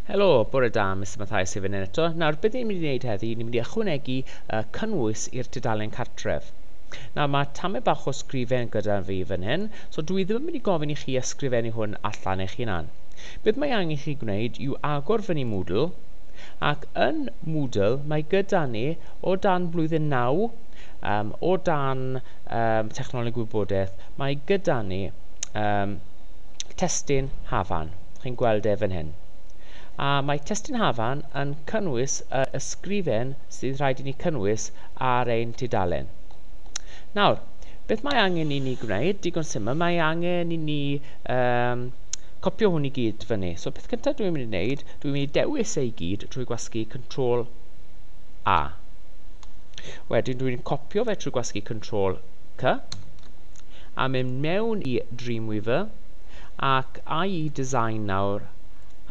Helo, bore da, Mister Mathias Hufen yn eto. Nawr, beth ni'n mynd i wneud heddi, ni'n mynd i ychwanegu uh, cynnwys i'r tudalen cartref. Nawr, mae tamau bach o sgrifen gyda fi fan hyn, so dwi ddim yn mynd i gofyn i chi ysgrifennu hwn allan eich hunan. Beth mae angen chi gwneud yw agor fyny Moodle, ac yn Moodle mae gyda ni o dan blwyddyn 9, um, o dan um, technoleg gwybodaeth, mae gyda ni um, testun Hafan. Chi'n gweld e fan hyn. A mae testun Hafan yn cynnwys y ysgrifen sydd rhaid i ni cynnwys ar ein tudalen. Nawr, beth mae angen i ni gwneud? Digon syml, mae angen i ni um, copio hwn i gyd fyny. So beth cyntaf dwi'n mynd i wneud, dwi'n mynd i dewis ei gyd trwy gwasgu Ctrl A. Wedyn dwi'n copio fe trwy gwasgu Ctrl C a mynd mewn i Dreamweaver ac ai i Design nawr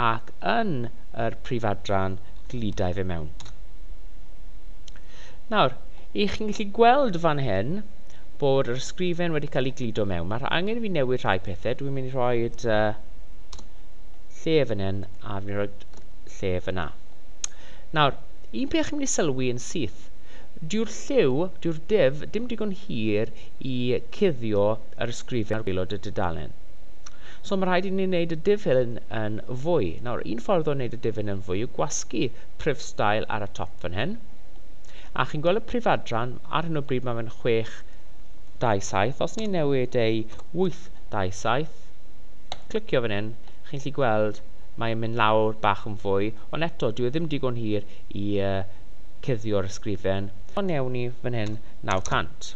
ac yn yr prif adran gludai fe mewn. Nawr, i chi'n gallu gweld fan hyn bod yr ysgrifen wedi cael ei gludo mewn. Mae'r angen i fi newid rhai pethau. Dwi'n mynd i rhoi uh, lle fan hyn a fi'n rhoi lle fyna. Nawr, un peth chi'n mynd i sylwi yn syth, dyw'r lliw, dyw'r div, dim digon hir i cuddio yr ysgrifen ar waelod y dudalen. So mae rhaid i ni wneud y diff hyn yn fwy. Nawr, un ffordd o wneud y diff hyn yn fwy yw gwasgu prif stael ar y top fan hyn. A chi'n gweld y prif adran, ar hyn o bryd mae fe'n 627. Os ni'n newid ei 827, clicio fan hyn, chi'n gallu gweld mae'n mynd lawr bach yn fwy, ond eto, dyw e ddim digon hir i uh, cuddio'r ysgrifen. Ond newn ni fan hyn 900.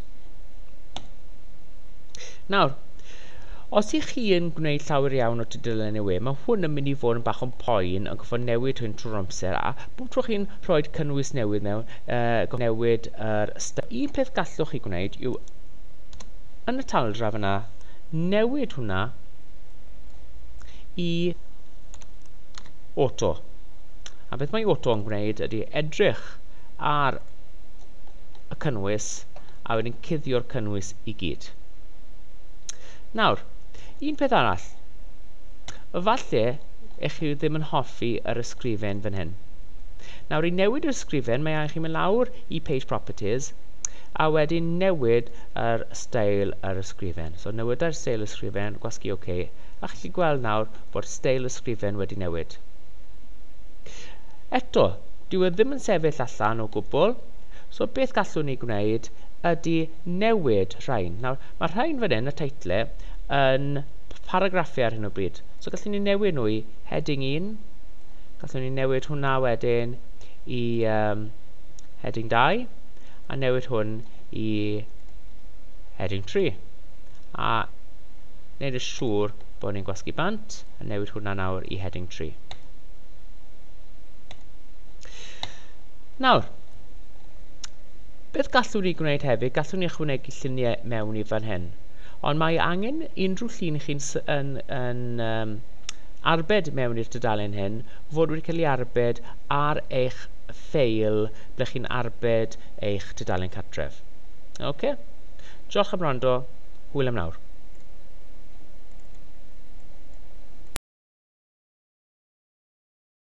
Nawr, os ych chi yn gwneud llawer iawn o tudalen y we, mae hwn yn mynd i fod yn bach o'n poen yn gofod newid hyn trwy'r amser a bob tro chi'n rhoi cynnwys newydd mewn, uh, newid yr uh, Un peth gallwch chi gwneud yw yn y taldraf yna, newid hwnna i auto. A beth mae auto yn gwneud ydy edrych ar y cynnwys a wedyn cuddio'r cynnwys i gyd. Nawr, un peth arall. Falle eich chi ddim yn hoffi yr ysgrifen fan hyn. Nawr, i newid yr ysgrifen, mae angen chi mynd lawr i Page Properties, a wedyn newid yr stael yr ysgrifen. So, newidau'r stael ysgrifen, gwasgu OK, a chi gweld nawr bod stael ysgrifen wedi newid. Eto, dyw e ddim yn sefyll allan o gwbl, So beth gallwn ni gwneud ydy newid rhain. Nawr, mae rhain fan hyn, y teitle, yn paragraffiau ar hyn o bryd. So gallwn ni newid nhw i heading 1, gallwn ni newid hwnna wedyn i um, heading 2, a newid hwn i heading 3. A wneud yn siŵr bod ni'n gwasgu bant, a newid hwnna nawr i heading 3. Nawr, beth gallwn ni gwneud hefyd? Gallwn ni ychwanegu lluniau mewn i fan hyn. Ond mae angen unrhyw llun chi'n yn, yn um, arbed mewn i'r dudalen hyn fod wedi cael ei arbed ar eich ffeil ble chi'n arbed eich dudalen cartref. Oce? Okay? Diolch am rando. Hwyl am nawr.